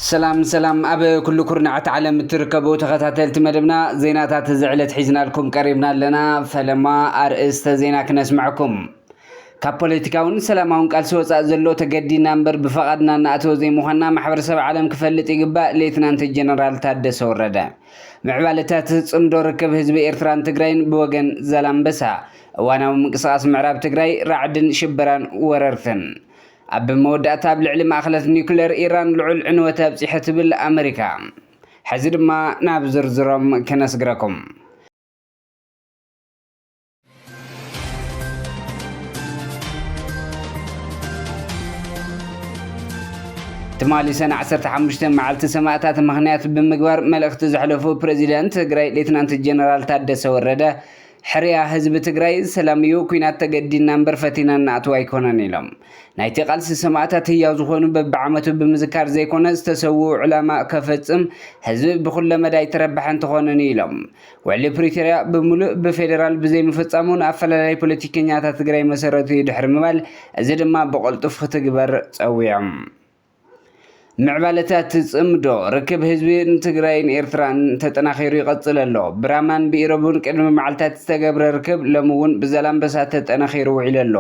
ሰላም ሰላም ኣብ ኩሉ ኩርናዓት ዓለም እትርከቡ ተኸታተልቲ መደብና ዜናታት እዚ ዕለት ሒዝናልኩም ቀሪብና ኣለና ፈለማ ኣርእስተ ዜና ክነስምዐኩም ካብ ፖለቲካውን ሰላማውን ቃልሲ ወጻእ ዘሎ ተገዲድና እምበር ብፈቓድና እንኣትዎ ዘይምዃንና ማሕበረሰብ ዓለም ክፈልጥ ይግባእ ሌትናንት ጀነራል ታደሰ ወረደ። ምዕባለታት ጽምዶ ርክብ ህዝቢ ኤርትራን ትግራይን ብወገን ዛላምበሳ፣ እዋናዊ ምንቅስቓስ ምዕራብ ትግራይ፣ ራዕድን ሽበራን ወረርትን። ኣብ መወዳእታ ኣብ ልዕሊ ማእኸለት ኒዩክሌር ኢራን ልዑል ዕንወት ኣብጺሐ ትብል ኣመሪካ። ሕዚ ድማ ናብ ዝርዝሮም ከነስግረኩም። ትማሊ ሰነ 15 መዓልቲ ሰማእታት ምክንያት ብምግባር መልእኽቲ ዘሕለፉ ፕሬዚደንት ትግራይ ሌትናንት ጀነራል ታደሰ ወረደ ሕርያ ህዝቢ ትግራይ ሰላም እዩ ኩናት ተገዲና እምበር ፈቲና እናኣትው ኣይኮነን ኢሎም ናይቲ ቃልሲ ሰማእታት ህያው ዝኾኑ በብዓመቱ ብምዝካር ዘይኮነ ዝተሰውኡ ዕላማ ከፈፅም ህዝቢ ብኩለ መዳይ ተረባሒ እንትኾንን ኢሎም ውዕሊ ፕሪቶርያ ብምሉእ ብፌደራል ብዘይምፍፃሙ ንኣፈላላይ ፖለቲከኛታት ትግራይ መሰረቱ እዩ ድሕሪ ምባል እዚ ድማ ብቐልጡፍ ክትግበር ፀዊዖም። ምዕባለታት ጽምዶ ርክብ ህዝቢ ንትግራይን ኤርትራን ተጠናኺሩ ይቐጽል ኣሎ። ብራማን ብኢሮብን ቅድሚ መዓልታት ዝተገብረ ርክብ ሎሚ እውን ብዛላምበሳ ተጠናኺሩ ውዒሉ ኣሎ።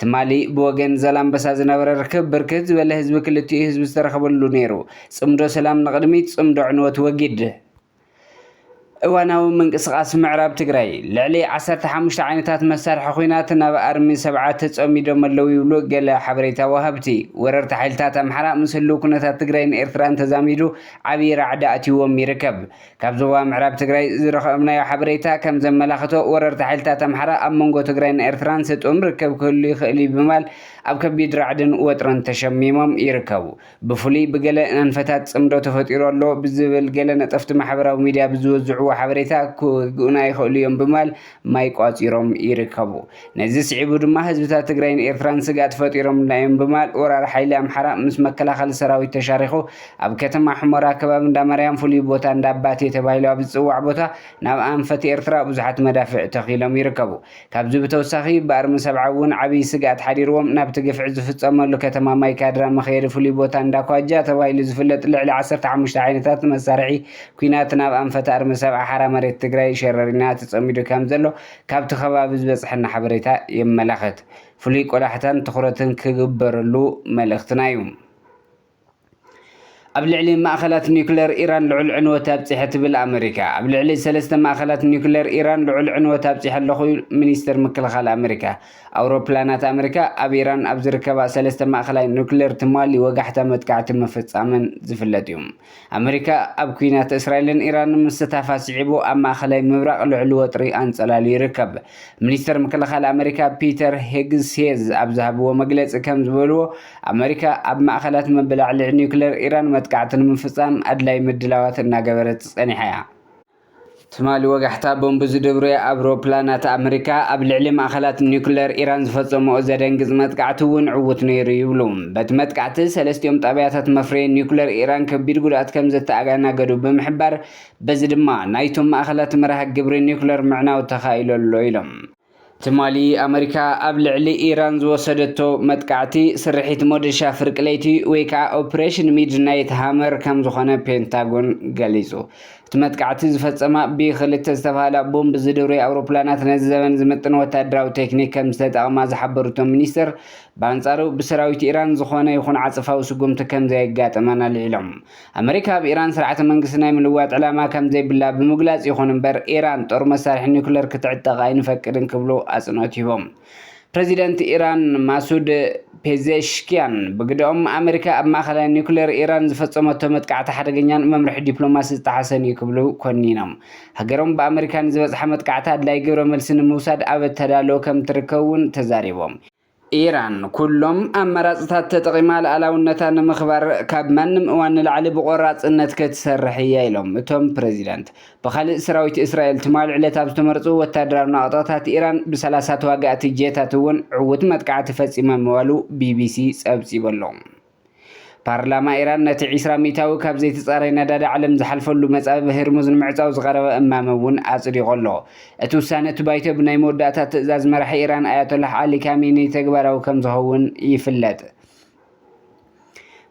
ትማሊ ብወገን ዛላምበሳ ዝነበረ ርክብ ብርክት ዝበለ ህዝቢ ክልቲኡ ህዝቢ ዝተረኸበሉ ነይሩ። ጽምዶ ሰላም ንቕድሚት፣ ጽምዶ ዕንወት ወጊድ! እዋናዊ ምንቅስቓስ ምዕራብ ትግራይ፣ ልዕሊ ዓሰርተ ሓሙሽተ ዓይነታት መሳርሒ ኲናት ናብ ኣርሚ ሰብዓ ተጸሚዶም ኣለዉ ይብሉ ገለ ሓበሬታ ወሃብቲ። ወረርቲ ሓይልታት ኣምሓራ ምስ ህሉው ኩነታት ትግራይን ኤርትራን ተዛሚዱ ዓብዪ ራዕዲ ኣትዩዎም ይርከብ። ካብ ዞባ ምዕራብ ትግራይ ዝረኸብናዮ ሓበሬታ ከም ዘመላኽቶ፣ ወረርቲ ሓይልታት ኣምሓራ ኣብ መንጎ ትግራይን ኤርትራን ስጡም ርክብ ክህሉ ይኽእል'ዩ ብምባል ኣብ ከቢድ ራዕድን ወጥርን ተሸሚሞም ይርከቡ። ብፍሉይ ብገለ ኣንፈታት ጽምዶ ተፈጢሩ ኣሎ ብዝብል ገለ ነጠፍቲ ማሕበራዊ ሚድያ ብዝወዝዕዎ ሓበሬታ ክወግኡና ይኽእሉ እዮም ብምባል ማይ ቋጺሮም ይርከቡ። ነዚ ስዒቡ ድማ ህዝብታት ትግራይን ኤርትራን ስግኣት ፈጢሮምልና እዮም ብምባል ወራሪ ሓይሊ ኣምሓራ ምስ መከላኸሊ ሰራዊት ተሻሪኹ ኣብ ከተማ ሑመራ ከባቢ እንዳማርያም ፍሉይ ቦታ እንዳባቴ ተባሂሉ ኣብ ዝጽዋዕ ቦታ ናብ ኣንፈት ኤርትራ ብዙሓት መዳፍዕ ተኺሎም ይርከቡ። ካብዚ ብተወሳኺ ብኣርሚ ሰብዓ እውን ዓብይ ስግኣት ሓዲርዎም ናብቲ ግፍዒ ዝፍፀመሉ ከተማ ማይ ካድራ መኽየዲ ፍሉይ ቦታ እንዳ ኳጃ ተባሂሉ ዝፍለጥ ልዕሊ ዓሰርተ ሓሙሽተ ዓይነታት መሳርሒ ኲናት ናብ ኣንፈት ኣርሚ ሰብዓ ሓራ መሬት ትግራይ ሸረሪና ተፀሚዱ ከምዘሎ ካብቲ ከባቢ ዝበፀሐና ሓበሬታ የመላኽት። ፍሉይ ቆላሕታን ትኹረትን ክግበረሉ መልእኽትና እዩ። ኣብ ልዕሊ ማእኸላት ኒዩክለር ኢራን ልዑል ዕንወት ኣብፂሐ ትብል ኣመሪካ። ኣብ ልዕሊ ሰለስተ ማእኸላት ኒዩክለር ኢራን ልዑል ዕንወት ኣብፂሐ ኣለኹ ሚኒስትር ምክልኻል ኣመሪካ። ኣውሮፕላናት ኣመሪካ ኣብ ኢራን ኣብ ዝርከባ ሰለስተ ማእኸላይ ኒዩክለር ትማሊ ወጋሕታ መጥቃዕቲ ምፍፃመን ዝፍለጥ እዩ። ኣመሪካ ኣብ ኲናት እስራኤልን ኢራንን ምስታፋ ስዒቡ ኣብ ማእኸላይ ምብራቕ ልዑል ወጥሪ ኣንፀላልዩ ይርከብ። ሚኒስተር ምክልኻል ኣመሪካ ፒተር ሄግሴዝ ኣብ ዝሃብዎ መግለፂ ከም ዝበልዎ፣ ኣመሪካ ኣብ ማእኸላት መበላዕልዒ ኒውክሌር ኢራን መጥቃዕቲ ንምፍፃም ኣድላዪ ምድላዋት እናገበረት ፀኒሓ እያ። ትማሊ ወጋሕታ ቦምብ ዝድርብያ ኣውሮፕላናት ኣመሪካ ኣብ ልዕሊ ማእኸላት ኒውክለር ኢራን ዝፈጸምኦ ዘደንግጽ መጥቃዕቲ እውን ዕዉት ነይሩ ይብሉ። በቲ መጥቃዕቲ ሰለስቲኦም ጣብያታት መፍረዪ ኒውክለር ኢራን ከቢድ ጉድኣት ከምዘተኣጋናገዱ ብምሕባር፣ በዚ ድማ ናይቶም ማእኸላት መርሃ ግብሪ ኒውክለር ምዕናው ተኻኢሉ ኣሎ ኢሎም። ትማሊ ኣመሪካ ኣብ ልዕሊ ኢራን ዝወሰደቶ መጥቃዕቲ ስርሒት ሞደሻ ፍርቂ ለይቲ ወይ ከዓ ኦፕሬሽን ሚድናይት ሃመር ከም ዝኾነ ፔንታጎን ገሊፁ። እቲ መጥቃዕቲ ዝፈፀማ ቢ-ክልተ ዝተብሃላ ቦምብ ዝድርብያ ኣውሮፕላናት ነዚ ዘበን ዝምጥን ወታደራዊ ቴክኒክ ከም ዝተጠቐማ ዝሓበሩ እቶም ሚኒስትር፣ ብኣንፃሩ ብሰራዊት ኢራን ዝኾነ ይኹን ዓፀፋዊ ስጉምቲ ከም ዘየጋጠመን ኣልዒሎም። ኣመሪካ ኣብ ኢራን ስርዓተ መንግስቲ ናይ ምልዋጥ ዕላማ ከም ዘይብላ ብምግላጽ ይኹን እምበር ኢራን ጦር መሳርሒ ኒኩለር ክትዕጠቕ ኣይንፈቅድን ክብሉ ኣጽንኦት ሂቦም። ፕረዚደንት ኢራን ማሱድ ፔዜሽኪያን ብግደኦም፣ ኣመሪካ ኣብ ማእከላይ ኒኩለር ኢራን ዝፈጸመቶ መጥቃዕቲ ሓደገኛን መምርሒ ዲፕሎማሲ ዝጠሓሰን'ዩ ክብሉ ኮኒኖም። ሃገሮም ብኣመሪካ ንዝበጽሓ መጥቃዕቲ ኣድላዪ ግብረ መልሲ ንምውሳድ ኣብ ኣተዳልዎ ከም እትርከብ'ውን ተዛሪቦም። ኢራን ኩሎም ኣማራፅታት ተጠቒማ ልኣላውነታ ንምኽባር ካብ ማንም እዋን ንላዕሊ ብቖራፅነት ክትሰርሕ እያ ኢሎም እቶም ፕረዚዳንት። ብኻሊእ ሰራዊት እስራኤል ትማል ዕለት ኣብ ዝተመርፁ ወታደራዊ ናቕጣታት ኢራን ብሰላሳ ተዋጋእቲ ጄታት እውን ዕዉት መጥቃዕቲ ፈፂሞም ምባሉ ቢቢሲ ፀብፂቡ ኣሎ። ፓርላማ ኢራን ነቲ ዒስራ ሚእታዊ ካብ ዘይተጻረየ ነዳዲ ዓለም ዝሓልፈሉ መጻብብ ህርሙዝ ንምዕጻው ዝቐረበ እማመ እውን ኣጽዲቑ ኣሎ። እቲ ውሳነ እቲ ባይቶ ብናይ መወዳእታ ትእዛዝ መራሒ ኢራን ኣያቶላህ ዓሊ ካሚኒ ተግባራዊ ከም ዝኸውን ይፍለጥ።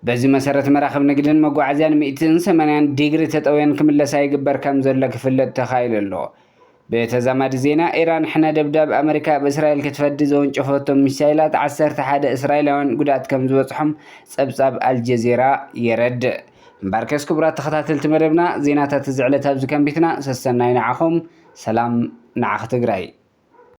በዚ መሰረት መራኽብ ንግድን መጓዓዝያን ሚእትን ሰማንያን ዲግሪ ተጠውየን ክምለሳ ይግበር ከም ዘሎ ክፍለጥ ተኻኢሉ ኣሎ። ብተዛማዲ ዜና፣ ኢራን ሕነ ደብዳብ ኣመሪካ ኣብ እስራኤል ክትፈዲ ዘወንጨፈቶም ሚሳይላት ዓሰርተ ሓደ እስራኤላውያን ጉድኣት ከም ዝበጽሖም ጸብጻብ ኣልጀዚራ የረድእ። እምበኣርከስ ክቡራት ተኸታተልቲ መደብና፣ ዜናታት እዚ ዕለት ኣብዚ ከንቢትና፣ ሰሰናዩ ንዓኹም፣ ሰላም ንዓኺ ትግራይ!